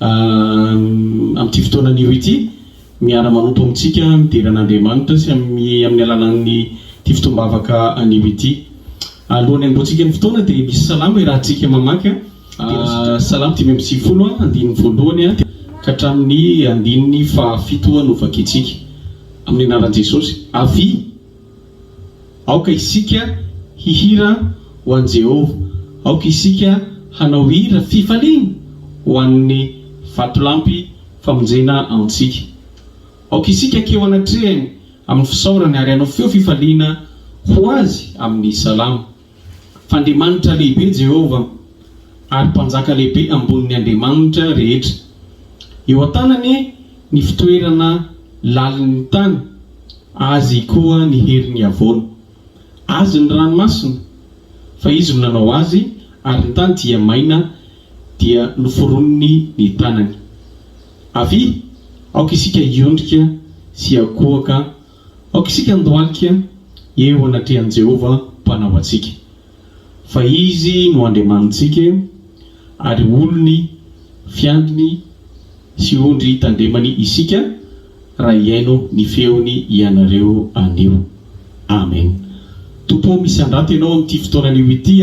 Amin'ity fotoana anio ity, miara-manompo amintsika midera an'Andriamanitra sy amin'ny alalan'ity fotoam-bavaka anio ity. Alohan'ny hanombohantsika ny fotoana dia misy salamo iarahantsika mamaky, Salamo dimy amby sivifolo, andininy voalohany ka hatramin'ny andininy fahafito novakintsika. Amin'ny anaran'i Jesosy, Avia! Aoka isika hihira ho an'i Jehovah, aoka isika hanao hira fifaliana ho an'ny Vatolampy famonjena antsika. Aoka isika hankeo anatrehany amin'ny fisaorana ary hanao feo fifaliana ho Azy amin'ny salamo. F'Andriamanitra lehibe Jehovah, ary Mpanjaka lehibe ambonin'ny andriamanitra rehetra. Eo an-tanany ny fitoerana lalin'ny tany, azy koa ny heriny havoana. Azy ny ranomasina, fa izy no nanao azy, ary ny tany dia maina, dia noforoniny ny tanany. Avia, aoka isika hiondrika sy hakohoka Aoka isika handohalika eo anatrehan'i Jehovah Mpanao antsika, fa izy no Andriamanitsika ary olony, fiandriny sy ondry tandremany isika raha hihaino ny feony ianareo anio. Amen. Tompo ô, misandrato Ianao amin'ity fotoananio ity.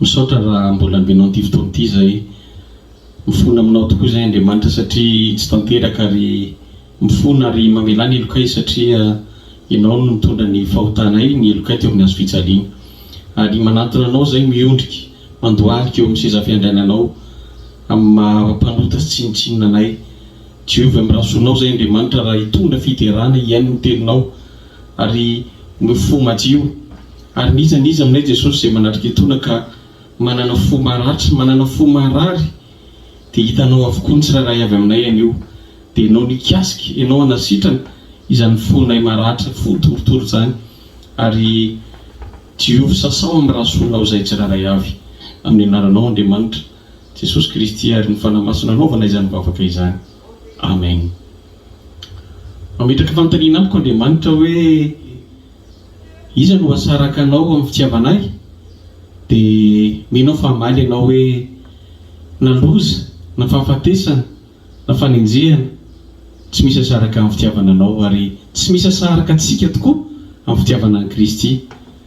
Misaotra raha mbola ambinao ity fotoana ity izay. Mifona aminao tokoa izay Andriamanitra satria tsy tanteraka ary mifona ary mamelà ny helokay satria Ianao no nitondra ny fahotanay, ny helokay teo amin'ny hazo fijaliana. Ary manantona Anao izay miondrika mandohalika eo amin'ny seza fiandriananao amin'ny maha mpanota sy tsinontsinona anay. Diovy amin'ny rà zonao izay Andriamanitra raha hitondra fiderana hihaino ny Teninao ary no fo madio. Ary n'iza n'iza aminay Jesosy izay manatrika etoana ka manana fo maratra, manana fo marary dia hitanao avokoa ny tsirairay avy aminay anio dia ianao nikasika, ianao hanasitrana izany fonay maratra, fo torotoro izany ary diovy sasao amin'ny rasoanao izahay tsirairay avy amin'ny anaranao Andriamanitra, Jesosy Kristy ary ny Fanahy Masina anaovana izany vavaka izany. Amen. Mametraka fanontaniana amiko Andriamanitra hoe iza no hasaraka anao amin'ny fitiavana ahy? Dia mino aho fa hamaly ianao hoe na loza, na fahafatesana, na fanenjehana, tsy misy hasaraka amin'ny fitiavana anao ary tsy misy hasaraka antsika tokoa amin'ny fitiavana an'i Kristy.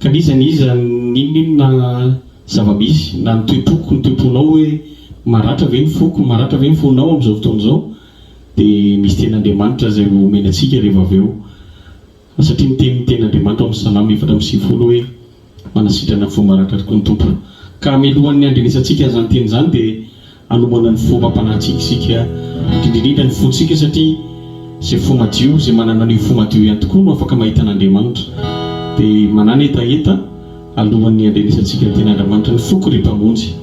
Ka n'iza n'iza n'inon'inona zava-misy, na ny toe-poko, ny toe-ponao hoe maratra ve ny foko, maratra ve ny fonao amin'izao fotoana izao, dia misy tenin'Andriamanitra izay ho omeny antsika rehefa avy eo. Satria miteny ny tenin'Andriamanitra ao amin'ny Salamo efatra amby sivifolo hoe, Manasitrana ny fo maratra tokoa ny Tompo. Ka hamelohan'ny handrenesantsika izany teny izany dia. Hanomana ny fo mampanahy isika, indrindra ny fontsika, satria izay fo madio, izay manana an'io fo madio ihany tokoa no afaka mahita an'Andriamanitra. Dia manana hetaheta alohan'ny handrenesantsika ny tenin'Andriamanitra ny foko, ry Mpamonjy.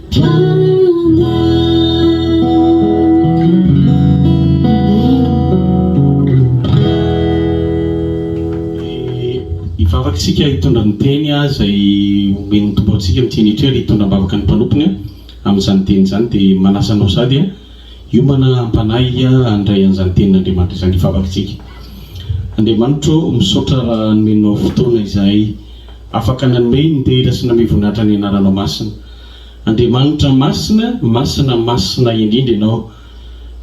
Hivavaka isika hitondra ny teny izay omen'ny Tompo antsika amin'ity minitra ity ary hitondra am-bavaka ny mpanompony amin'izany teny izany dia manasa anao sady hiomana am-panahy handray an'izany tenin'Andriamanitra izany hivavaka isika. Andriamanitro ô, misaotra raha nomenao fotoana izahay afaka nanome ny dera sy namehy voninahitra ny anaranao masina. Andriamanitra masina, masina, masina indrindra Ianao,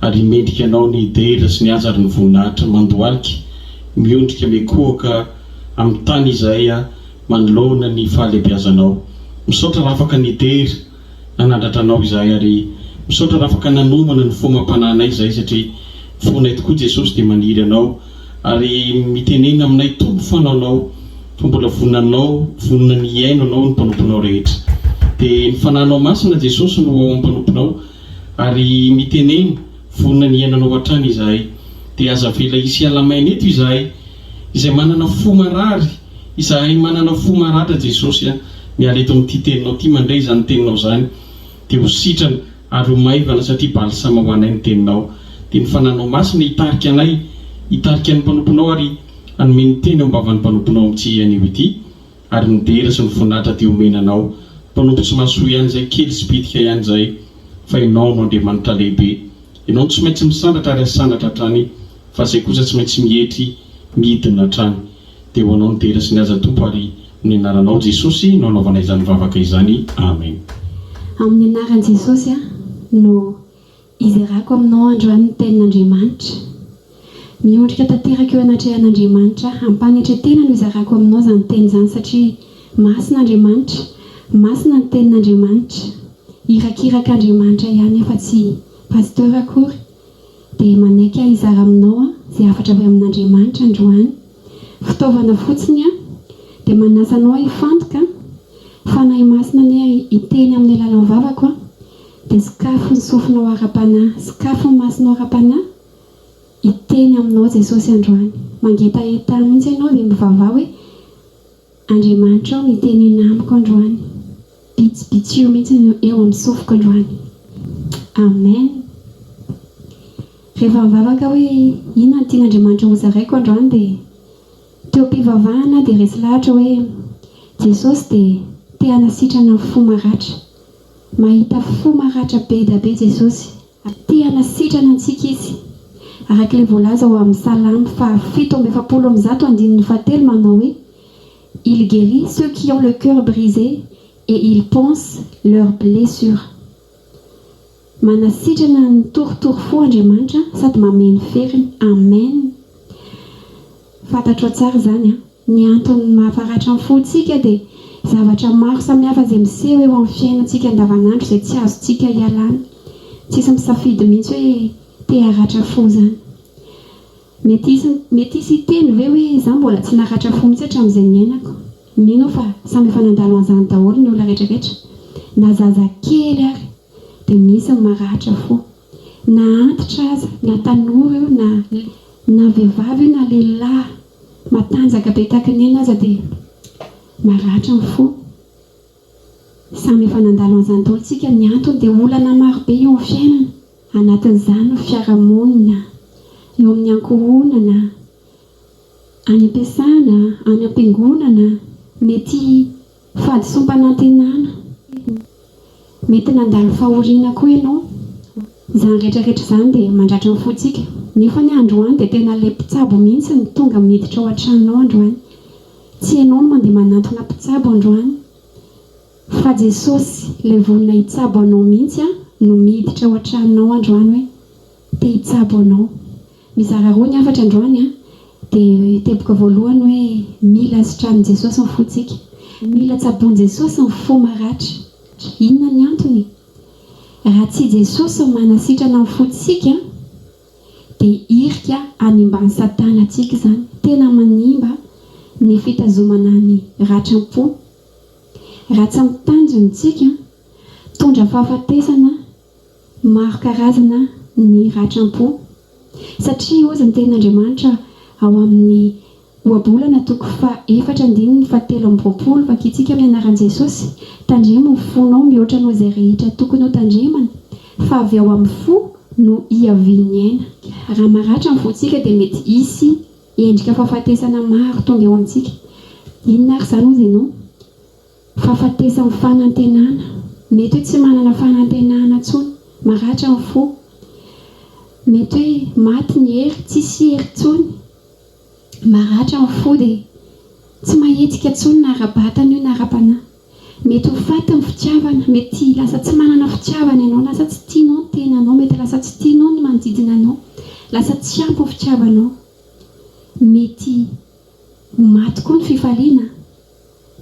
ary mendrika Anao ny dera sy ny haza ary ny voninahitra mandohalika, miondrika mikohoka amin'ny tany izahay manoloana ny fahalehibiazanao. Misaotra raha afaka nidera nanandratra Anao izahay ary misaotra raha afaka nanomana ny fomam-panahinay izahay satria ny fonay tokoa Jesosy dia maniry Anao, Ary mitenena aminay Tompo fa nanao fa mbola vonona anao vonona ny hihaino anao ny mpanomponao rehetra dia ny fananao masina Jesosy no ao ampanomponao ary mitenena vonona ny hihaino anao hatrany izahay dia aza avela hisy hiala maina eto izahay izay manana fo marary izahay manana fo maratra Jesosy a miala eto amin'ity teninao ity mandray izany teninao izany dia ho sitrana Ary ho maivana satria balsama ho anay ny Teninao. Dia ny Fananao Masina hitarika anay, hitarika ny mpanomponao ary hanome ny teny eo am-bavan'ny mpanomponao amin'ity iha anio ity. Ary ny dera sy ny voninahitra dia homena Anao. Mpanompo tsy mahasoa ihany izay, kely sy bitika ihany izay, fa Ianao no Andriamanitra lehibe. Ianao no tsy maintsy misandratra ary hasandratra hatrany, fa izay kosa tsy maintsy mietry, midina hatrany. Dia ho anao ny dera sy ny haja Tompo ary amin'ny anaranao Jesosy no anaovana izany vavaka izany Amen. Amin'ny anaran'i Jesosy aho no izerako aminao androany ny tenin'Andriamanitra. Miondrika tanteraka eo anatrehan'Andriamanitra aho. Am-panetretena no izarako aminao izany teny izany satria masina Andriamanitra, masina ny tenin'Andriamanitra. Irakiraka Andriamanitra ihany aho fa tsy Pasteur akory. Dia manaiky aho hizara aminao izay hafatra avy amin'Andriamanitra androany. Fitaovana fotsiny aho. Dia manasa anao hifantoka. Fanahy Masina anie hiteny amin'ny alalan'ny vavako an! Dia sokafy ny sofinao ara-panahy, sokafy ny masonao ara-panahy. Hiteny aminao Jesosy androany. Mangetaheta ahy mihitsy ianao dia mivavaha hoe. Andriamanitra ô mitenena amiko androany bitsibitsio mihitsy no eo amin'ny sofiko androany Amen Rehefa mivavaka hoe inona no tian'Andriamanitra hozaraiko androany dia teo am-pivavahana aho dia resy lahatra hoe Jesosy dia te hanasitrana ny fo maratra Mahita fo maratra be da be Jesosy Ary te hanasitrana antsika Izy. Araka ilay voalaza ao amin'ny Salamo fahafito amby efapolo amby zato andininy fahatelo manao hoe, Il guérit ceux qui ont le cœur brisé et il panse leurs blessures. Manasitrana ny torotoro fo Andriamanitra sady mameno feriny. Amen! Fantatrao tsara izany an! Ny antony mahafaratra ny fontsika dia zavatra maro samihafa izay miseho eo amin'ny fiainantsika andavanandro izay tsy azontsika ialana. Tsisy misafidy mihitsy hoe te haratra fo izany. Mety hisy mety hisy hiteny ve hoe izaho mbola tsy naratra fo mihitsy hatramin'izay niainako. Mino aho fa samy efa nandalo an'izany daholo ny olona rehetrarehetra. Na zaza kely ary dia misy ny maratra fo. Na antitra aza, na tanora io na na vehivavy io na lehilahy. Matanjaka be taky neny aza de maratra ny fo. Samy efa nandalo an'izany daholo tsika ny antony de olana maro be eo amin'ny fiainana anatin'izany ny fiarahamonina, eo amin'ny ankohonana, any am-piasana, any am-piangonana, mety. Fahadisoam-panantenana, Mety nandalo fahoriana koa ianao. Izany rehetrarehetra izany dia mandratra ny fontsika. Nefa anie androany dia tena ilay mpitsabo mihitsy no tonga miditra ao an-tranonao androany. Tsy ianao no mandeha manantona mpitsabo androany fa Jesosy, ilay vonona hitsabo anao mihitsy, no miditra ao an-tranonao androany hoe. Te hitsabo anao. Mizara roa ny hafatra androany an! Dia teboka voalohany hoe mila sitranin'i Jesosy ny fontsika. Mila tsaboin'i Jesosy ny fo maratra. Inona ny antony? Raha tsy i Jesosy no manasitrana ny fontsika dia hirika hanimban'i Satana antsika izany. Tena manimba ny fitazomana ny ratram-po. Raha tsy amin'ny tanjony isika, mitondra fahafatesana Maro karazana ny ratram-po, satria hozy ny tenin'Andriamanitra ao amin'ny Ohabolana toko faha-efatra andininy fahatelo amby roapolo, Vakintsika amin'ny anaran'i Jesosy, Tandremo ny fonao mihoatra noho izay rehetra tokony hotandremana, fa avy ao amin'ny fo no hiavian'ny aina. Raha maratra ny fontsika dia mety hisy endrika fahafatesana maro tonga eo amintsika. Inona ary izany hozy ianao? Fahafatesan'ny fanantenana, mety hoe tsy manana fanantenana intsony, maratra ny fo, mety hoe maty ny hery, tsisy hery intsony, maratra ny fo dia tsy mahetsika intsony na ara-batana io na ara-panahy. Mety ho faty ny fitiavana, mety lasa tsy manana fitiavana ianao, lasa tsy tianao ny tenanao, mety lasa tsy tianao ny manodidina anao, lasa tsy ampy ny fitiavanao, mety ho maty koa ny fifaliana.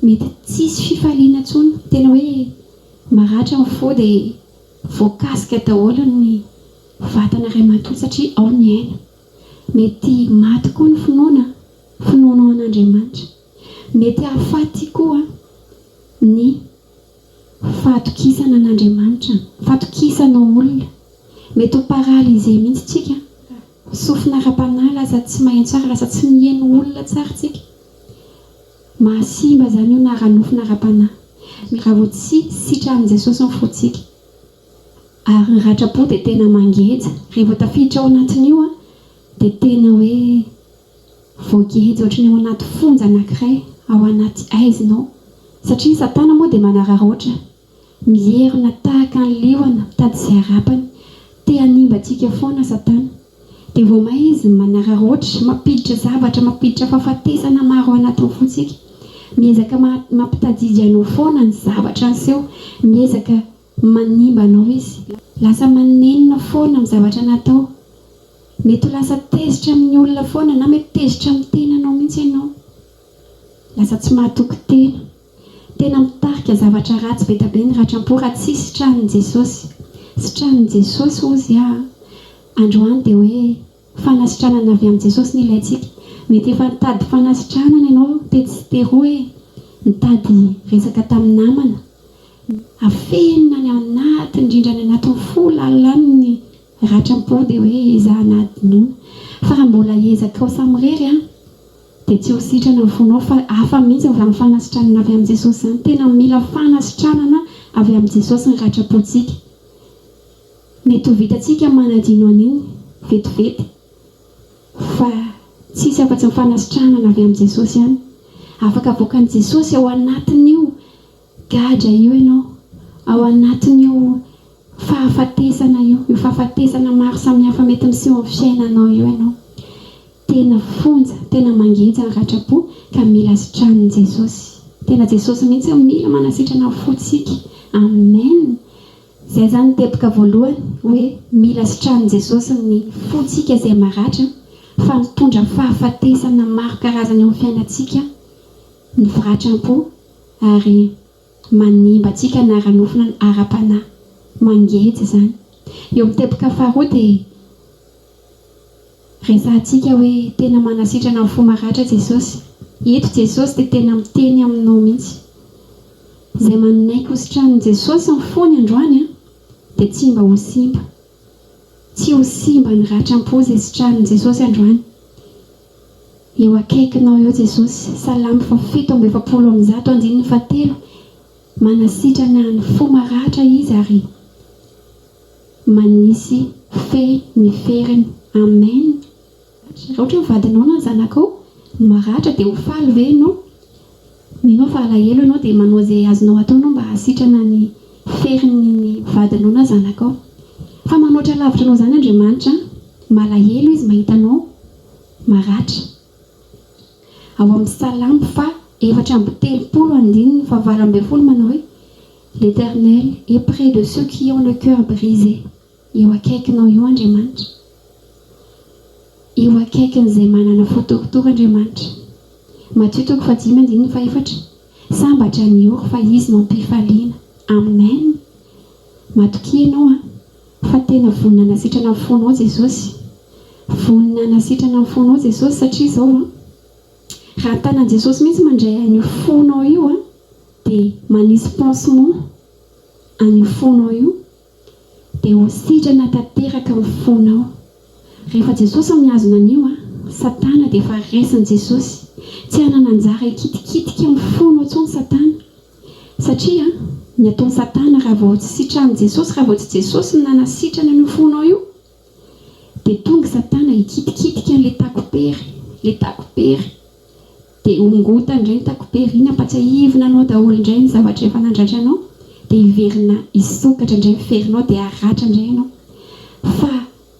Mety tsisy fifaliana intsony, tena hoe maratra ny fo dia voakasika daholo ny vatana iray manontolo satria ao ny aina. Mety maty koa ny finoana, finoanao an'Andriamanitra. Mety hahafaty koa ny fahatokisana an'Andriamanitra, fatokisanao olona. Mety ho paralysé mihitsy tsika. Sofina ara-panahy lasa tsy mahay tsara, lasa tsy miheno olona tsara isika. Mahasimba izany io na ara-nofo na ara-panahy. Ny raha vao tsy sitran'i Jesosy ny fontsika ary ny ratram-po dia tena mangeja. Rehefa vao tafiditra ao anatin'io dia tena hoe voageja ohatry ny ao anaty fonja anankiray, ao anaty haizina ao. Satria ny Satana moa dia manararaotra. Mierona tahaka ny liona mitady izay harapany. Te hanimba antsika foana Satana. Dia vao may izy no manararaotra, mampiditra zavatra, mampiditra fahafatesana maro ao anatin'ny fontsika. Miezaka mampitadidy anao foana ny zavatra niseho. Miezaka manimba anao izy. Lasa manenina foana amin'ny zavatra natao. Mety ho lasa tezitra amin'ny olona foana na mety tezitra amin'ny tenanao mihitsy ianao. Lasa tsy mahatoky tena. Tena mitarika zavatra ratsy be da be ny ratram-po raha tsy sitranin'i Jesosy. Sitranin'i Jesosy hozy aho androany dia hoe fanasitranana avy amin'i Jesosy no ilaintsika. Mety efa nitady fanasitranana ianao tetsy teroa e, nitady resaka tamin'ny namana, afenina any anaty indrindra any anatin'ny fo lalina any ny ratram-po dia hoe ezahana hadinoina. Fa raha mbola ezakao samirery an! Dia tsy ho sitrana ny fonao fa hafa mihitsy avy amin'ny fanasitranana avy amin'i Jesosy izany. Tena mila fanasitranana avy amin'i Jesosy ny ratram-pontsika. Mety ho vitantsika manadino an'iny vetivety fa tsy hisy afa-tsy ny fanasitranana avy amin'i Jesosy ihany. Afaka avoakan'i Jesosy ao anatin'io Gadra io ianao ao anatin'io fahafatesana io, io fahafatesana maro samihafa mety miseho amin'ny fiainanao io ianao. Tena fonja, tena mangeja ny ratram-po ka mila sitranin'i Jesosy. Tena Jesosy mihitsy no mila manasitrana ny fontsika. Amen! Izay izany ny teboka voalohany hoe mila sitranin'i Jesosy ny fontsika izay maratra fa mitondra fahafatesana maro karazana eo amin'ny fiainantsika mivaratra am-po ary manimba antsika anara-nofona ara-panahy. Mangeja izany. Eo amin'ny teboka faharoa dia resahantsika hoe tena manasitrana ny fo maratra Jesosy. Eto Jesosy dia tena miteny aminao mihitsy. Izay manaiky hositranin'i Jesosy ny fony androany dia tsy mba ho simba. Tsy ho simba ny ratram-po izay sitranin'i Jesosy androany. Eo akaikinao eo Jesosy. Salamo faha fito amby efapolo amby zato andininy faha telo Manasitrana ny fo maratra Izy ary manisy fehy ny feriny. Amen! Raha ohatra ny vadinao na ny zanakao no maratra dia ho faly ve ianao? Mino aho fa alahelo ianao dia manao izay azonao atao ianao mba hahasitrana ny ferin'ny ny vadinao na zanakao. Fa manoatra lavitra anao izany Andriamanitra an! Malahelo Izy mahita anao maratra. Ao amin'ny Salamo faha efatra amby telopolo andininy faha valo ambin'ny folo manao hoe, L'Eternel est près de ceux qui ont le cœur brisé. Eo akaikinao eo Andriamanitra. Eo akaikin'izay manana fo torotoro Andriamanitra. Matio toko fahadimy andininy fahefatra Sambatra ny ory fa izy no am-pifaliana. Amen! Matokia ianao an! Fa tena vonona hanasitrana ny fonao Jesosy. Vonona hanasitrana ny fonao Jesosy satria izao an! Raha ny tanan'i Jesosy mihitsy mandray an'io fonao io an! Dia manisy pansement an'io fonao io Dia ho sitrana tanteraka ny fonao. Rehefa Jesosy no mihazona an'io an! Satana dia efa resin'i Jesosy. Tsy hanana anjara hikitikitika amin'ny fonao intsony Satana. Satria an! ny ataon'i Satana raha vao tsy sitranin'i Jesosy, raha vao tsy Jesosy no nanasitrana an'io fonao io, Dia tonga satana hikitikitika an'ilay takopery, ilay takopery, dia hongotany indray ny takopery, iny hampatsiahivina anao daholo indray ny zavatra efa nandratra anao, dia hiverina hisokatra indray ny ferinao dia haratra indray ianao. Fa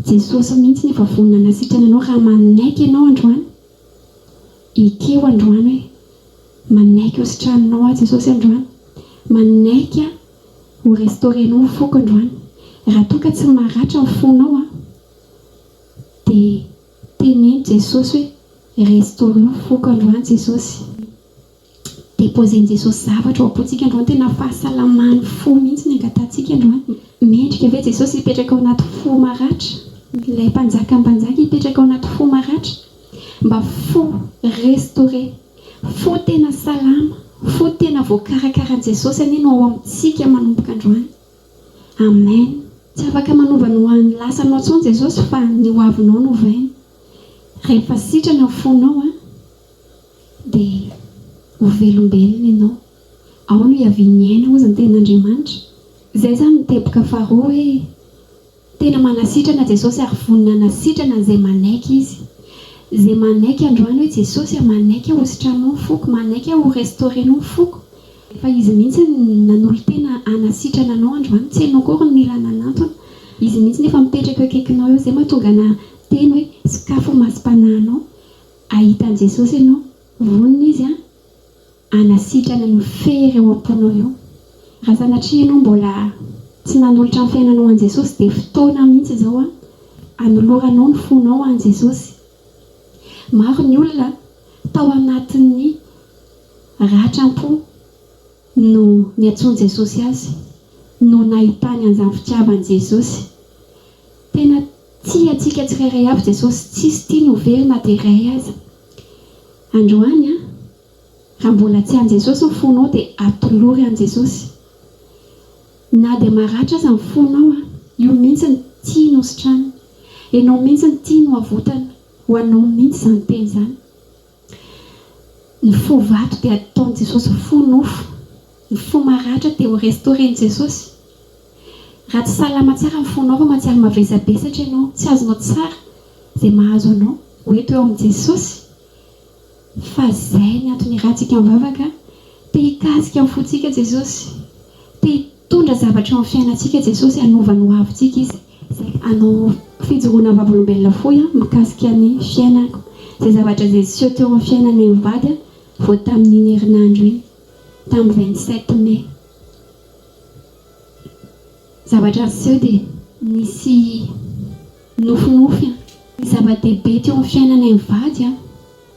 Jesosy mihitsy no efa vonona hanasitrana anao raha manaiky ianao androany Ity o androany hoe manaiky ho sitraninao aho Jesosy androany manaiky ho restaurenao ny foko androany raha toa ka tsy maratra ny fonao aho dia teneno Jesosy hoe restaureo ny foko androany Jesosy. Deposen'i Jesosy zavatra ao am-pontsika androany, tena fahasalaman'ny fo mihitsy ny angatahantsika androany. Mendrika ve Jesosy hipetraka ao anaty fo maratra? Ilay Mpanjakan'ny mpanjaka hipetraka ao anaty fo maratra? Mba fo restore, fo tena salama, fo tena voakarakaran'i Jesosy anie no ao amintsika manomboka androany. Amen! Tsy afaka manova ny ho an'ny lasanao intsony Jesosy fa ny ho avinao no ovainy. Rehefa sitrana ny fonao an! Dia ho velombelona ianao. Ao no hiavian'ny aina hozy ny tenin'Andriamanitra. Izay izany ny teboka faharoa hoe, tena manasitrana Jesosy ary vonona hanasitrana an'izay manaiky Izy. Izay manaiky androany hoe Jesosy a, manaiky aho hositranao ny foko, manaiky aho ho restaurer-nao ny foko. Efa Izy mihitsy no nanolo-tena hanasitrana anao androany, tsy ianao akory no mila nanantona. Izy mihitsy no efa mipetraka eo akaikinao eo, izay mahatonga anà hiteny hoe, sokafy ny masom-panahinao. Hahita an'i Jesosy ianao. Vonona Izy hanasitrana io fery ao am-ponao io. Raha sanatria ianao mbola tsy nanolotra ny fiainanao an'i Jesosy dia fotoana mihitsy izao hanoloranao ny fonao an'i Jesosy. Maro ny olona tao anatin'ny ratram-po no niantsoan'i Jesosy azy, no nahitany an'izany fitiavan'i Jesosy. Tena. Tia antsika tsirairay avy Jesosy, tsisy tiany ho very na dia iray aza. Androany an! Raha mbola tsy any Jesosy ny fonao dia atolory any Jesosy. Na dia maratra aza ny fonao an! Io mihintsy no tiany hositranina. Enao mihintsy no tiany ho avotana. Ho anao mihintsy izany teny izany. Ny fo vato dia ataon'i Jesosy fo nofo. Ny fo maratra dia ho restauren'i Jesosy. Raha tsy salama tsara ny fonao fa mahatsiaro mavesabesatra ianao, tsy azonao tsara izay mahazo anao, ho eto eo amin'i Jesosy fa izay ny antony iarahantsika mivavaka. Te hikasika ny fontsika Jesosy. Te hitondra zavatra eo amin'ny fiainantsika Jesosy hanova ny hoavintsika Izy. Izay hanao fijoroana vavolombelona fohy aho mikasika ny fiainako. Izay zavatra izay niseho teo amin'ny fiainanay mivady vao tamin'iny herinandro iny, tamin'ny vingt sept mai. Zavatra niseho dia nisy nofinofy ny zava-dehibe teo amin'ny fiainanay mivady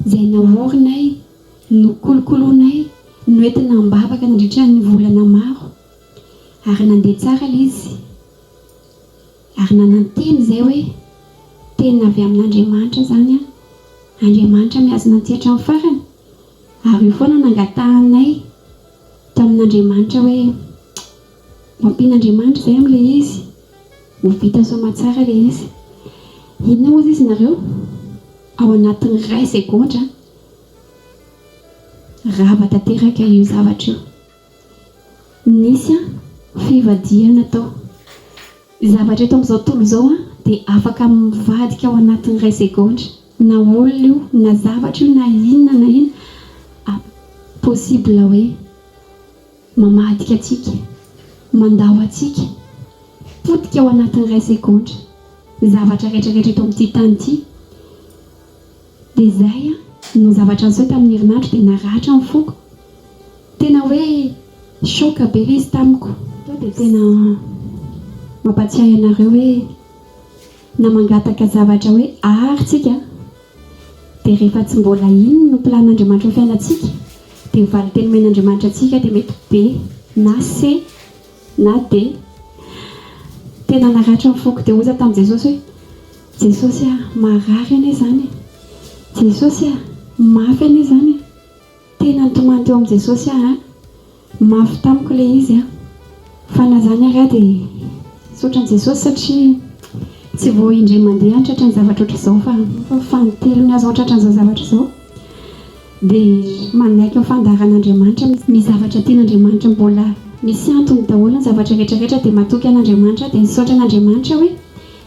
izay naorinay, nokolokoloinay, noentina am-bavaka nandritra ny volana maro. Ary nandeha tsara ilay izy. Ary nanantena izay hoe, Tena avy amin'Andriamanitra izany an! Andriamanitra mihazona antsika hatramin'ny farany. Ary io foana no nangatahanay tamin'Andriamanitra hoe, Mampian'Andriamanitra izay amin'ilay izy. Ho vita soamatsara ilay izy. Inona moa izay izy nareo? Ao anatin'ny iray segondra, rava tanteraka io zavatra io. Nisy an fivadihana tao. Ny zavatra eto amin'izao tontolo izao an dia afaka mivadika ao anatin'ny iray segondra. Na olona io, na zavatra io, na inona na inona a possible hoe mamadika antsika, mandao antsika, potika ao anatin'ny iray segondra ny zavatra rehetra rehetra eto amin'ity tany ity. Dia izay an, ny zavatra niseho tamin'ny herinandro dia naratra ny foko. Tena hoe choc be ilay izy tamiko. Tonga dia tena mampatsiahy anareo hoe na mangataka zavatra hoe art tsika dia rehefa tsy mbola iny no plan Andriamanitra ho fiainantsika dia valinteny omen Andriamanitra antsika dia mety be na C na D. Tena naratra ny foko dia hoy za tamin'i Jesosy hoe. Jesosy ah! Marary anie izany e! Jesosy ah! Mafy anie izany e! Tena nitomany teo amin'i Jesosy aho an! Mafy tamiko ilay izy an! Fa na izany ary aho dia misaotra an'i Jesosy satria tsy vao indray mandeha aho tratra ny zavatra ohatr'izao fa efa fanintelony aho izao tratra an'izao zavatra izao. Dia manaiky ny fandaharan'Andriamanitra misy ny zavatra tian'Andriamanitra mbola misy antony daholo ny zavatra rehetra rehetra dia matoky an'Andriamanitra aho dia misaotra an'Andriamanitra hoe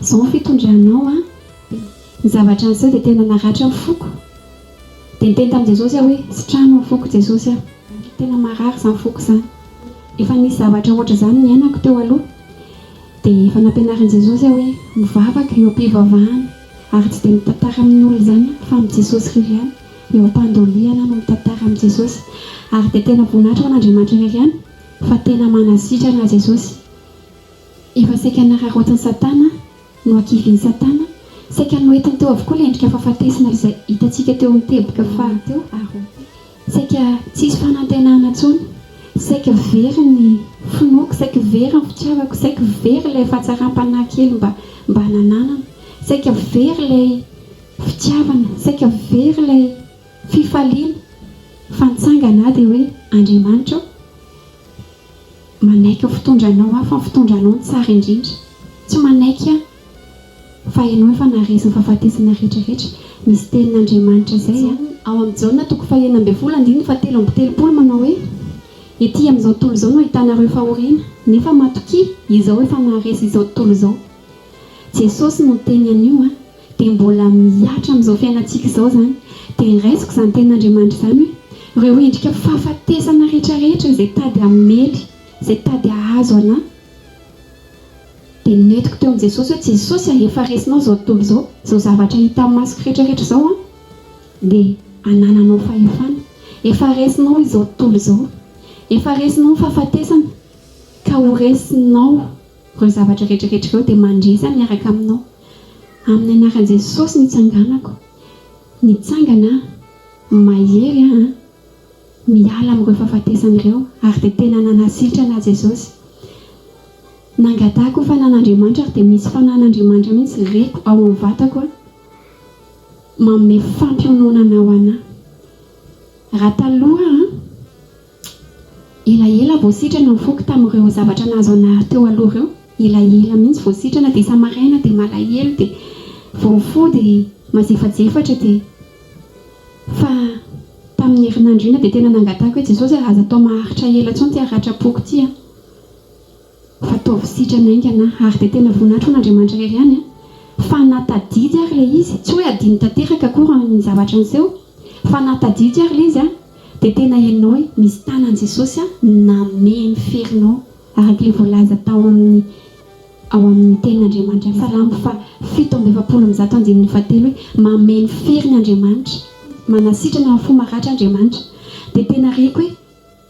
Zao ny fitondranao an! Ny zavatra niseho dia tena naratra ny foko. Dia niteny tamin'i Jesosy aho hoe, Sitrano ny foko Jesosy a! Tena marary izany foko izany. Efa nisy zavatra ohatr'izany niainako teo aloha. Dia efa nampianarin'i Jesosy aho hoe, mivavaka eo am-pivavahana. Ary tsy dia mitantara amin'ny olona izany aho fa amin'i Jesosy irery ihany. Eo am-pandolihana aho no mitantara amin'i Jesosy. Ary dia tena voninahitra ho an'Andriamanitra irery ihany fa tena manasitrana Jesosy. Efa saika nararaotin'i Satana, nohakivin'i Satana, saika noentiny teo avokoa ilay endrika fahafatesana izay hitantsika teo amin'ny teboka faha telo ary roa telo. Saika tsy hisy fanantenana intsony, saika very ny finoako, saika very ny fitiavako, saika very ilay fahatsaram-panahy kely mba mba nananana, saika very ilay fitiavana, saika very ilay fifaliana, fa ny tsangana dia hoe, Andriamanitra ô! Manaiky ny fitondranao aho fa ny fitondranao no tsara indrindra. Tsy manaiky aho fa ianao efa naharesy ny fahafatesana rehetra rehetra. Misy tenin' Andriamanitra izay an. Ao amin'ny Jaona toko fahenina ambin'ny folo andininy fahatelo amby telopolo manao hoe, Ety amin'izao tontolo izao no ahitanareo fahoriana, nefa matokia, Izaho efa naharesy izao tontolo izao. Jesosy no niteny an'io an. dia mbola mihatra amin'izao fiainantsika izao izany, dia raisiko izany tenin'Andriamanitra izany hoe, ireo endrika fahafatesana rehetrarehetra izay tady hamely, izay tady hahazo anà, dia nentiko teo amin'i Jesosy hoe, Jesosy a, efa resinao izao tontolo izao, izao zavatra hita amin'ny masoko rehetrarehetra izao an, dia anananao fahefana, efa resinao izao tontolo izao, efa resinao ny fahafatesana, ka ho resinao. Ireo zavatra rehetrarehetra ireo dia mandresa miaraka aminao. Amin'ny anaran'i Jesosy nitsanganako. Mitsangana aho. Mahery aho an. Miala amin'ireo fahafatesana ireo ary dia tena nanasitrana ahy Jesosy. Nangatahako ho fanan'Andriamanitra ary dia misy fanan'Andriamanitra mihitsy reko ao amin'ny vatako an. Manome fampiononana ho anah. Raha taloha an. Elaela vao sitrana ny foko tamin'ireo zavatra nahazo an'Ary teo aloha ireo, elaela mihitsy vao sitrana dia isa-maraina dia malahelo dia vao mifoha dia mazefajefatra dia fa tamin'ny herinandro iny dia tena nangatahako hoe Jesosy a aza atao maharitra ela intsony ity haratrapoko ity a! Ataovy sitrana haingana ary dia tena voninahitro an'Andriamanitra irery ihany an! Fa na tadidy ary ilay izy, tsy hoe adino tanteraka akory ny zavatra niseho, fa na tadidy ary ilay izy an, dia tena henonao hoe misy tanan'i Jesosy an, namehy ny ferinao araka ilay voalaza tao amin'ny ao amin'ny tenin'Andriamanitra. Salamo faha fito amby efapolo amby zato andininy faha telo hoe mamehy ny feriny Andriamanitra, manasitrana ny fo maratra Andriamanitra. Dia tena reko hoe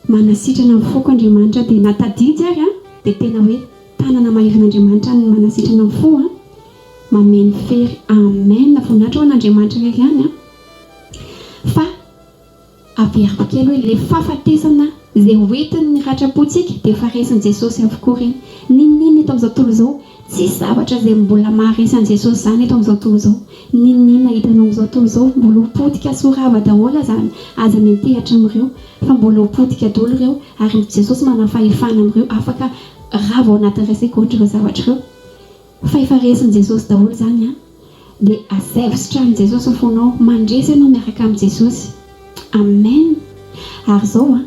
Manasitrana ny foko Andriamanitra dia na tadidy ary an dia tena hoe tanana maivin Andriamanitra ny manasitrana ny fo an mameno fery amen voninahitra ho an Andriamanitra irery ihany an fa averiko kely hoe le fahafatesana ze hoentiny ny ratrapo tsika dia efa resin Jesosy avokoa reny ninoninona eto amizao tontolo izao Tsisy zavatra izay mbola maharesy an'i Jesosy izany eto amin'izao tontolo izao. N'inon'inona hitanao amin'izao tontolo izao, mbola ho potika sy ho rava daholo azany. Aza miantehatra amin'ireo, fa mbola ho potika daholo ireo, ary ny Jesosy manana fahefana amin'ireo afaka rava ao anatin'ny resy coach ireo zavatra ireo. Fa efa resin'i Jesosy daholo izany an! Dia asaivo sitranin'i Jesosy ny fonao, mandresy ianao miaraka amin'i Jesosy. Amen! Ary izao an!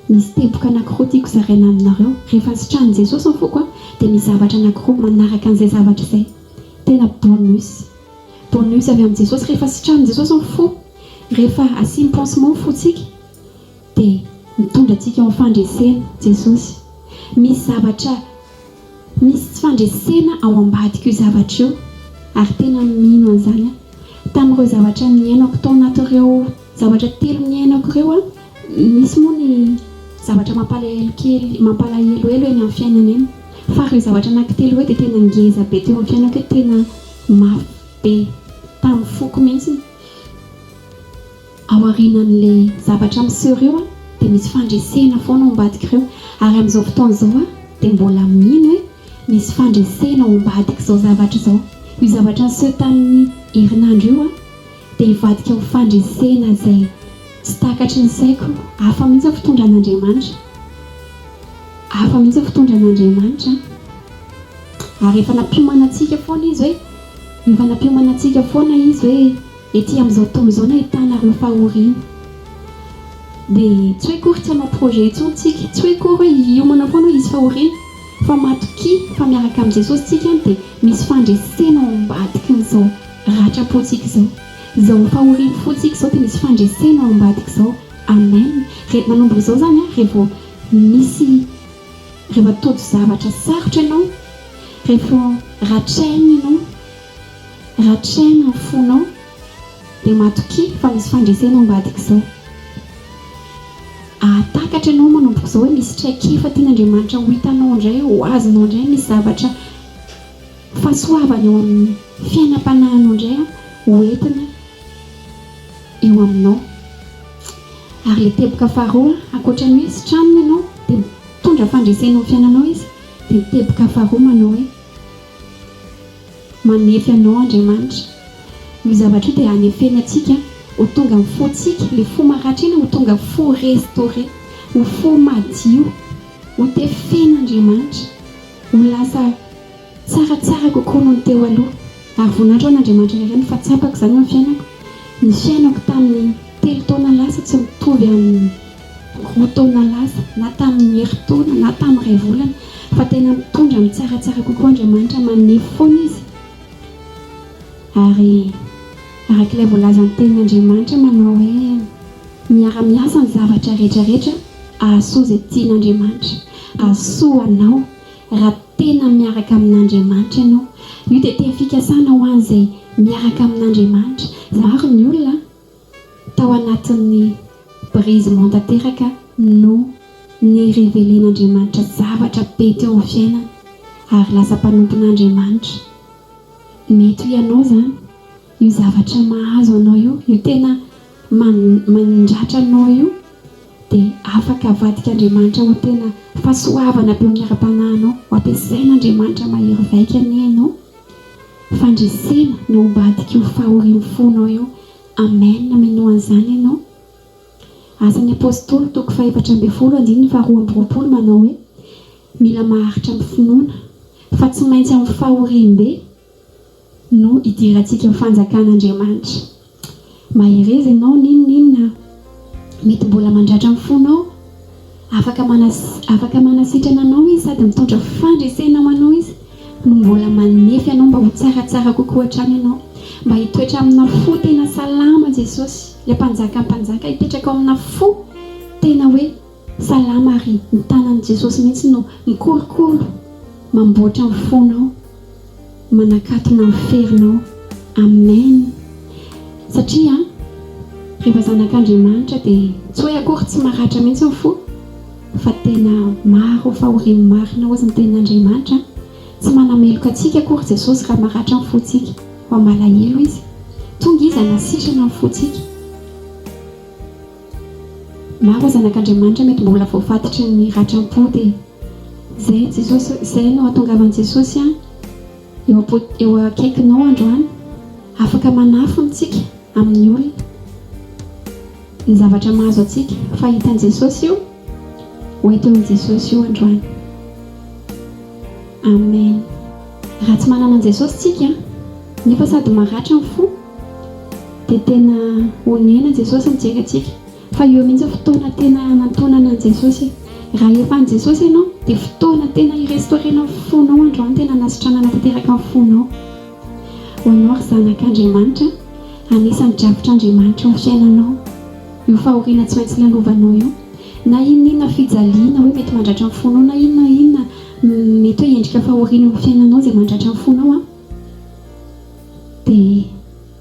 Misy teboka anankiroa tiako zaraina aminareo. Rehefa sitranin'i Jesosy ny foko dia misy zavatra anankiroa manaraka an'izay zavatra izay. Tena bonus. Bonus avy amin'i Jesosy. Rehefa sitranin'i Jesosy ny fo, rehefa asiany pansement ny fontsika dia mitondra antsika eo amin'ny fandreseny Jesosy. Misy zavatra, misy tsy fandresena ao ambadik'io zavatra io ary tena mino an'izany aho. Tamin'ireo zavatra niainako tao anatin'ireo Zavatra telo niainako ireo an! Misy moa ny zavatra mampalahelo kely, mampalahelohelo eny amin'ny fiainana eny, fa ireo zavatra anaky telo ireo dia tena ngeza be teo amin'ny fiainako hoe tena mafy be tamin'ny foko mihitsy. Aorianan'ilay zavatra miseho ireo an! dia misy fandresena foana ao ambadik'ireo, ary amin'izao fotoana izao aho dia mbola mino hoe misy fandresena ao ambadik'izao zavatra izao. Io zavatra niseho tamin'ny herinandro io an! Dia hivadika ho fandresena izay tsy takatry ny saiko. Hafa mihitsy ny fitondran'Andriamanitra. Hafa mihitsy ny fitondran'Andriamanitra an. Ary efa nampiomana antsika foana Izy hoe, efa nampiomana antsika foana Izy hoe ety amin'izao tontolo izao no ahitana ireo fahoriana. Dia tsy hoe akory tsy hanao projet intsony isika, tsy hoe akory hoe hiomana foana hoe hisy fahoriana, fa matokia fa miaraka amin'i Jesosy isika dia misy fandresena ao ambadikin'izao. Ratram-pontsika izao. Izao fahorian'ny fontsika izao dia misy fandresena ao ambadika izao. Amen. Re, manomboka izao izany an, re vao misy, re vao tojo zavatra sarotra ianao, re vao ratraina ianao, ratraina ny fonao, dia matokia fa misy fandresena ao ambadika izao. Ahatakatra ianao manomboka izao hoe misy traikefa tian'Andriamanitra ho hitanao indray, ho azonao indray misy zavatra. Fahasoavana eo amin'ny fiainam-panahinao indray aho ho entina eo aminao. Ary ilay teboka faharoa, ankoatra ny hoe sitrano ianao dia mitondra fandresena eo amin'ny fiainanao Izy, dia ny teboka faharoa manao hoe, Manefy anao Andriamanitra. Io zavatra io dia hanefeny antsika ho tonga amin'ny fontsika, ilay fo maratra iny ho tonga fo restaurer, ho fo madio, hotefen'Andriamanitra, ho lasa. Tsara tsara kokoa noho ny teo aloha ary voninahitra ho an'Andriamanitra irery no fa tsapako izany amin'ny fiainako. Ny fiainako tamin'ny telo taona lasa tsy mitovy amin'ny roa taona lasa na tamin'ny herintaona na tamin'ny iray volana fa tena mitondra amin'ny tsara tsara kokoa Andriamanitra manefy foana izy ary araka ilay voalazan'ny tenin'Andriamanitra manao hoe miara miasa ny zavatra rehetra rehetra ahasoa izay tian'Andriamanitra ahasoa anao Raha tena miaraka amin'Andriamanitra ianao, io dia teny fikasana ho an'izay miaraka amin'Andriamanitra. Maro ny olona tao anatin'ny brisement tanteraka noho ny revelen'Andriamanitra zavatra be teo amin'ny fiainany ary lasa mpanompon'Andriamanitra. Mety ho ianao izany io zavatra mahazo anao io, io tena. Mandratra anao io dia afaka avadika Andriamanitra ho tena fahasoavana be miara-panahy anao. Ho ampiasain' Andriamanitra mahery vaika anie ianao. Fandresena no ambadiky io fahorian'ny fonao io. Amen, minoa an'izany ianao. Asan'ny Apostoly toko fahefatra ambin'ny folo andininy faharoa amby roapolo manao hoe, Mila maharitra amin'ny finoana, fa tsy maintsy amin'ny fahoriam-be. no hidirantsika fanjakan'Andriamanitra. Mahereza ianao n'inon'inona mety mbola mandratra ny fonao. Afaka afaka manasitrana anao izy sady mitondra fandresena ho anao izy no mbola manefy anao mba ho tsaratsara kokoa hatrany ianao. Mba hitoetra amina fo tena salama Jesosy, ilay mpanjakan'ny mpanjaka hipetraka ao amina fo tena hoe Salama ary ny tanan'i Jesosy mihitsy no mikorokoro mamboatra ny fonao manakatona ny ferinao Amen satria rehefa zanak'Andriamanitra dia tsy hoe akory tsy maratra mihitsy ny fo fa tena maro fahoriany marina ozy ny tenin'Andriamanitra tsy manameloka antsika akory Jesosy raha maratra ny fontsika fa malahelo izy tonga izy hanasitrana ny fontsika Maro zanak'Andriamanitra mety mbola voafatotry ny ratram-pody e! Izay Jesosy, izay no ahatongavan'i Jesosy eo am-po, eo akaikinao androany, afaka manafina antsika amin'ny olona, ny zavatra mahazo antsika, fa hitan'i Jesosy io. Ho eto amin'i Jesosy io androany. Amen. Raha tsy manana an'i Jesosy tsika nefa sady maratra ny fo dia tena onena Jesosy mijery antsika fa eo mihitsy fotoana tena hanantonana an'i Jesosy e! Raha efa an'i Jesosy ianao dia fotoana tena hi-restaurer-na ny fonao androany tena hanasitranana tanteraka ny fonao ho anao ry zanak'Andriamanitra anisan'ny drafitr'Andriamanitra eo amin'ny fiainanao. Io fahoriana tsy maintsy lalovanao io na inona inona fijaliana hoe mety mandratra ny fonao na inona inona mety hoe endrika fahoriana eo amin'ny fiainanao izay mandratra ny fonao an dia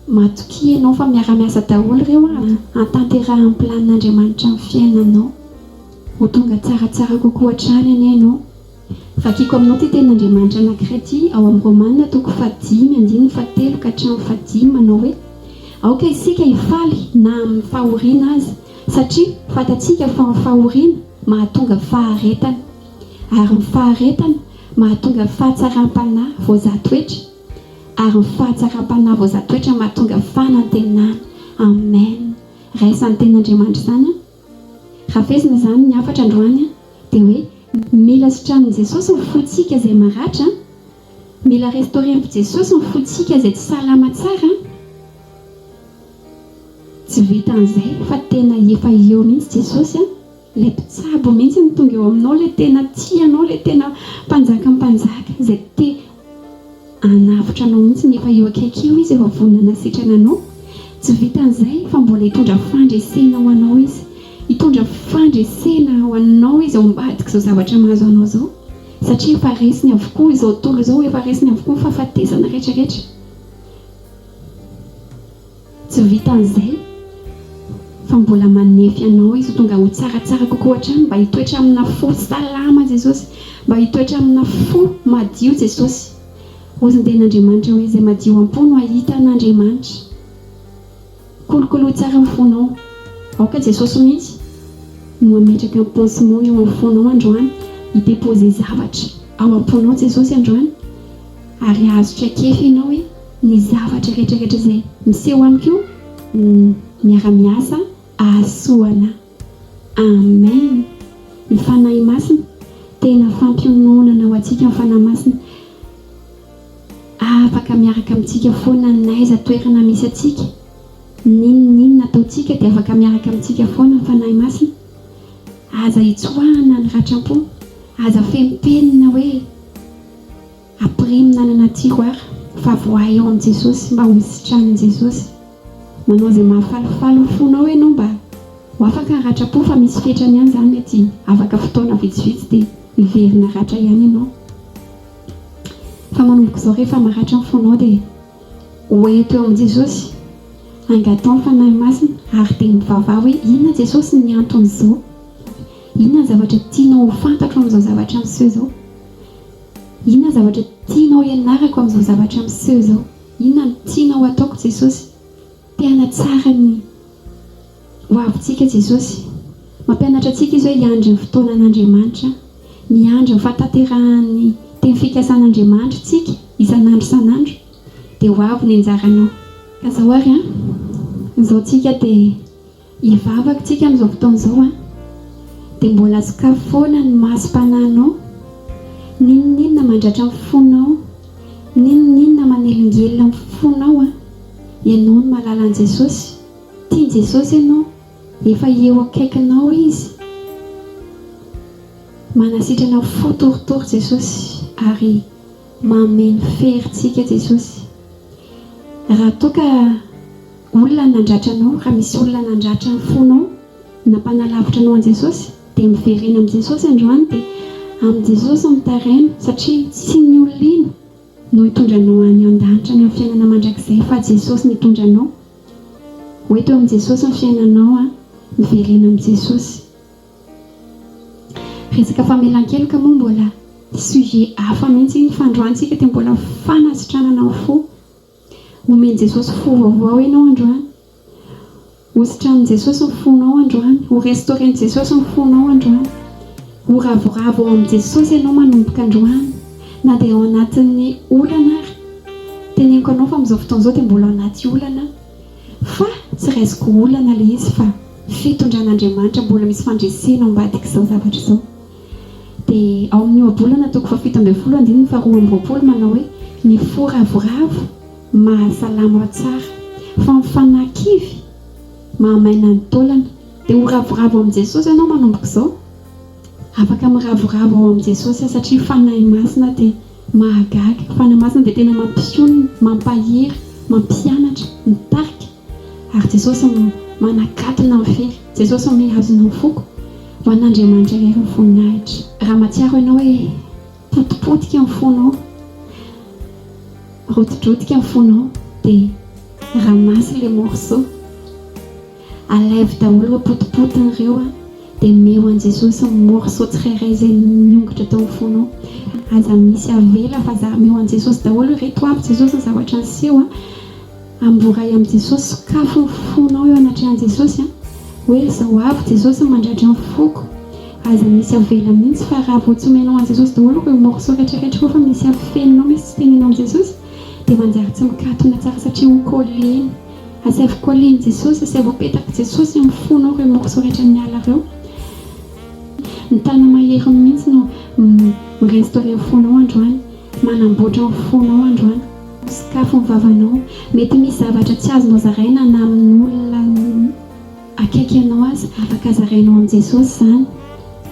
matokia ianao fa miara-miasa daholo ireo an hantanterahan'ny planin'Andriamanitra ny fiainanao ho tonga tsaratsara kokoa hatrany anie ianao Vakiko aminao ity tenin'Andriamanitra anankiray ity ao amin'ny Romana toko fahadimy andininy fahatelo ka hatramin'ny fahadimy manao hoe, Aoka isika hifaly na amin'ny fahoriana aza, satria fantatsika fa ny fahoriana mahatonga faharetana, ary ny faharetana mahatonga fahatsaram-panahy voazahatoetra, ary ny fahatsaram-panahy voazahatoetra mahatonga fanantenana. Amen! Raisa ny tenin'Andriamanitra izany an! Hafesina izany ny hafatra androany a! Dia hoe mila sitraniny Jesosy ny fotsika izay maratra a! Mila restauren'i Jesosy ny fotsika izay tsy salama tsara a! Tsy vitan'izay fa tena efa eo mihitsy Jesosy a! Ilay mpitsabo mihitsy no tonga eo aminao, ilay tena tia anao, ilay tena mpanjakam-panjaka izay te Hanavotra anao mihitsy nefa eo akaiky eo izy efa vonona hanasitrana anao. Tsy vitan'izay fa mbola hitondra fandresena ho anao izy. Hitondra fandresena ho anao izy ao ambadik'izao zavatra mahazo anao izao satria efa resiny avokoa izao tontolo izao, efa resiny avokoa ny fahafatesana rehetra rehetra. Tsy vitan'izay fa mbola manefy anao izy ho tonga ho tsaratsara kokoa hatrany mba hitoetra amina fo salama Jesosy mba hitoetra amina fo madio Jesosy hozinden'Andriamanitra hoe izay madio am-po no hahita an'Andriamanitra kolokolo tsara ny fonao aoka Jesosy mihitsy no hametraka ny pansement eo amin'ny fonao androany hi-deposer zavatra ao am-ponao Jesosy androany Ary azo traikefa ianao hoe ny zavatra retraretra izay miseho amiko no miara miasa ahasoa ana. Amen! Ny Fanahy Masina tena fampiononana ho antsika ny Fanahy Masina afaka miaraka amintsika foana n'aiza toerana misy antsika n'inn n'inn ataontsika dia afaka miaraka amintsika foana ny Fanahy Masina aza hitsoahana ny ratram-po aza feno penina hoe Ampirimo nanana tiroir fa voahay eo amin'i Jesosy mba ho sitranin'i Jesosy. Manao izay mahafalifaly ny fonao ianao mba ho afaka haratrapo fa misy fetrany ihany izany mety afaka fotoana vitsivitsy dia hiverina ratra ihany ianao. Fa manomboka izao rehefa maratra ny fonao dia hoento eo amin'i Jesosy hangatao ny Fanahy Masina ary dia mivavaha hoe inona Jesosy ny anton'izao? Inona ny zavatra tianao ho fantatro amin'izao zavatra miseho izao? Inona zavatra tianao hianarako amin'izao zavatra miseho izao? Inona no tianao ho ataoko Jesosy? Te hanatsara ny hoavintsika Jesosy. Mampianatra antsika Izy hoe hiandry ny fotoanan'Andriamanitra, miandry ny fahatanterahan'ny teny fikasan'Andriamanitra isika isan'andro isan'andro. Dia ho avy ny anjaranao. Ka izao ary an, izao tsika dia. Ny vavak tsika am zao fotoana zao an de mbola sokafy foana ny masom-panahinao, n'inon'inona mandratra ny fonao, n'inon'inona manelingelina ny fonao an, ianao no mahalala an'i Jesosy, tian'i Jesosy ianao, efa eo akaikinao Izy, manasitrana fo torotoro Jesosy ary mameno fery tsika Jesosy, raha toa ka. Olona nandratra anao, raha misy olona nandratra ny fonao, nampanalavitra anao an'i Jesosy, dia miverena amin'i Jesosy androany, dia amin'i Jesosy no taraino, satria tsy ny olona iny no hitondra anao any an-danitra, any amin'ny fiainana mandrakizay, fa Jesosy no hitondra anao. Ho eto amin'i Jesosy ny fiainanao an, miverena amin'i Jesosy. Resaka famelan-keloka moa mbola sujet hafa mihitsy iny, fa androany isika dia mbola fanasitranana ny fo, Omen'i Jesosy fo vaovao ianao androany. Hositranin'i Jesosy ny fonao androany. Ho restauren'i Jesosy ny fonao androany. Ho ravoravo ao amin'i Jesosy ianao manomboka androany, na dia ao anatin'ny olana ary. Teneniko anao fa amin'izao fotoana izao dia mbola ao anaty olana aho, fa tsy raisiko olana ilay izy fa fitondran'Andriamanitra, mbola misy fandresena ao ambadik'izao zavatra izao. Dia ao amin'ny ohabolana toko fahafito ambin'ny folo andininy faharoa amby roapolo manao hoe ny fo ravoravo mahasalama tsara fa ny fanahy kivy mahamaina ny taolana. Dia ho ravoravo amin'i Jesosy ianao manomboka izao. Afaka miravoravo ao amin'i Jesosy aho satria Fanahy Masina dia mahagaga. Fanahy Masina dia tena mampionona, mampahery, mampianatra, mitarika. Ary Jesosy manakatona ny fe. Jesosy mihazona ny foko. Ho an'Andriamanitra irery ny voninahitra. Raha mahatsiaro ianao hoe potipotika ny fonao, rotidrotika ny fonao dia ramasse les morceaux, alaivo daholo ireo potipotiny ireo dia omeo an'i Jesosy ny morceaux tsirairay izay niongotra tao amin'ny fonao. Aza misy avela fa zary omeo an'i Jesosy daholo ireto avy Jesosy ny zavatra niseho. Amboray amin'i Jesosy, sokafy ny fonao eo anatrehan'i Jesosy hoe izao avy Jesosy mandratra ny foko, aza misy avela mihitsy fa raha vao tsy omenao an'i Jesosy daholo ireo morceaux retraretra ireo fa misy afeninao misy tsy teneninao amin'i Jesosy dia manjary tsy mikatona tsara satria ho coller-ny, asaivo coller-n'i Jesosy, asaivo apetak'i Jesosy amin'ny fonao ireo morceaux rehetra miala ireo, ny Tana maherin'ny mihitsy no mi-restaurer ny fonao androany. Manamboatra ny fonao androany. Misokafy ny vavanao. Mety misy zavatra tsy azonao zaraina na amin'olona akaiky anao aza. Afaka zarainao amin'i Jesosy izany.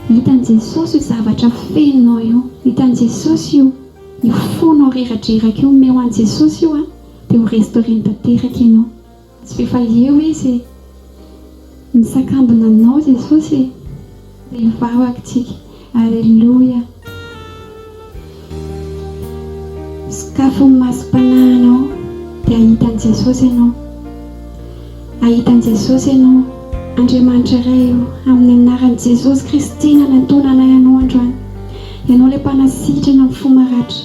Hitan'i Jesosy io zavatra fenonao io. Hitan'i Jesosy io. Io fonao reradreraka io, omeo an'i Jesosy io dia ho restaurer-ny tanteraka ianao. Tsy efa eo izy e! Misakambina aminao Jesosy e! Dia hivavaka tsika. Aleloia! Sokafy ny masom-panahinao dia hahita an'i Jesosy ianao. Hahita an'i Jesosy ianao. Andriamanitra Ray o, amin'ny anaran'i Jesosy Kristy nanatona anay anao androany. Ianao ilay mpanasitrana ny fo maratra.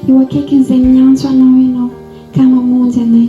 Eo akaikin'izay miantso anao ianao ka mamonjy anay.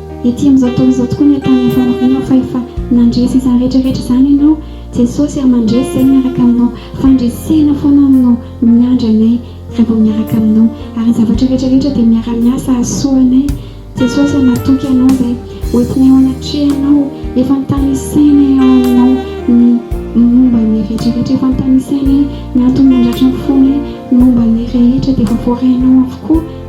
Ety amin'izao fotoana izao tokoa ny ataon'ny faniriana fa efa nandresy izany rehetra rehetra izany ianao Jesosy ary mandresy izay miaraka aminao fandresena foana no miandry anay raha vao miaraka aminao ary ny zavatra rehetra rehetra dia miara-miasa hahasoa anay Jesosy ary matoky anao izay hoentinay eo anatrehanao efa notanisainay ao aminao ny momba ny rehetra rehetra efa notanisainay ny antony mandratra ny fonay ny momba ny rehetra dia efa voarainao avokoa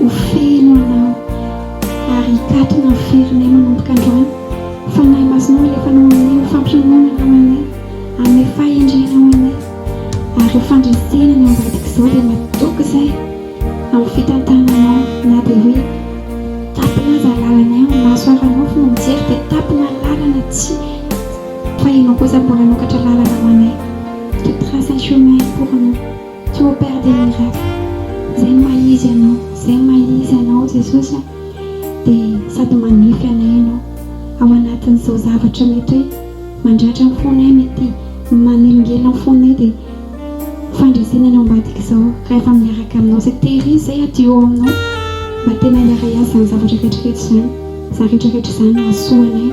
Ho feno anao ary hikatona ny firinay manomboka androany. Fanahy Masinao alefanao aminay ho fampiononana ho anay, hanome fahendrena ho anay. Ary io fandresena ny ao ambadika izao dia matoky izay amin'ny fitantananao na dia hoe tapina aza lalanay amin'ny maso haranofy no mijery dia tapina ny lalana tsy fa ianao kosa mbola hanokatra lalana ho anay, tu traces un chemin pour nous. Tu opères des miracles Zay ny maha izy anao Zay ny maha izy anao Jesosy a Dia sady manefy anay ianao Ao anatin'izao zavatra mety hoe Mandratra ny fonay Mety manelingelina ny fonay Dia fandresena ny ao ambadik'izao Rehefa miaraka aminao Zay tery izy zay adio ao aminao Mba tena hiara-hiazo izany zavatra rehetrarehetra izany Izany rehetrarehetra izany Hahasoa anay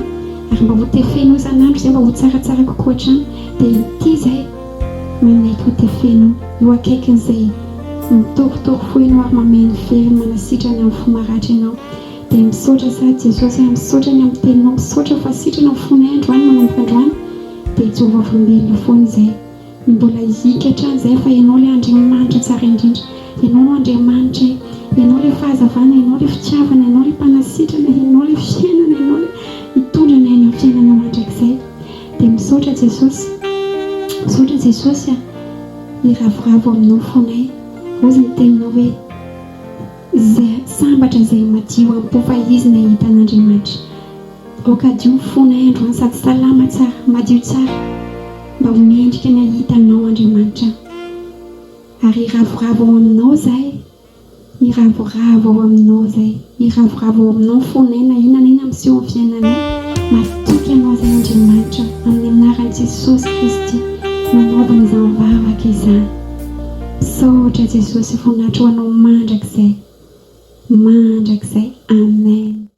Ary mba ho tefenao isan'andro izay Mba ho tsaratsara kokoa hatrany Dia ity izay Mineiko dia feno eo akaikiny izay mitorotoro foheno ary mameno fery manasitrana amin'ny fo maratra ianao dia misaotra sa Jesosy ah misaotra ny amin'ny teninao misaotra fa sitrana ny fonay androany manomboka androany dia hijoro vavolombelona foana izay ny mbola hihiaka hatrany izay fa ianao ilay Andriamanitra tsara indrindra ianao no Andriamanitra eh ianao ilay fahazavana ianao ilay fitiavana ianao ilay mpanasitrana ianao ilay fiainana ianao ilay hitondra anay any amin'ny fiainana mandrakizay. Dia misaotra Jesosy, misaotra Jesosy a, miravoravo aminao foanay, ozy ny teninao hoe izay sambatra izay madio ampo fa izy no ahita an'Andriamanitra, aoka hadio ny fonay androany sady salama tsara, madio tsara mba ho mendrika ny ahita anao Andriamanitra a, ary hiravoravo ao aminao izahay Miravoravo ao aminao zay. Miravoravo ao aminao ny fonay na inona na inona miseho amin'ny fiainanay. Masiaka ianao izay Andriamanitra amin'ny anaran'i Jesosy Kristy manaovana izany vavaka izany. Misaotra Jesosy voninahitra ho anao mandrakizay mandrakizay Amen.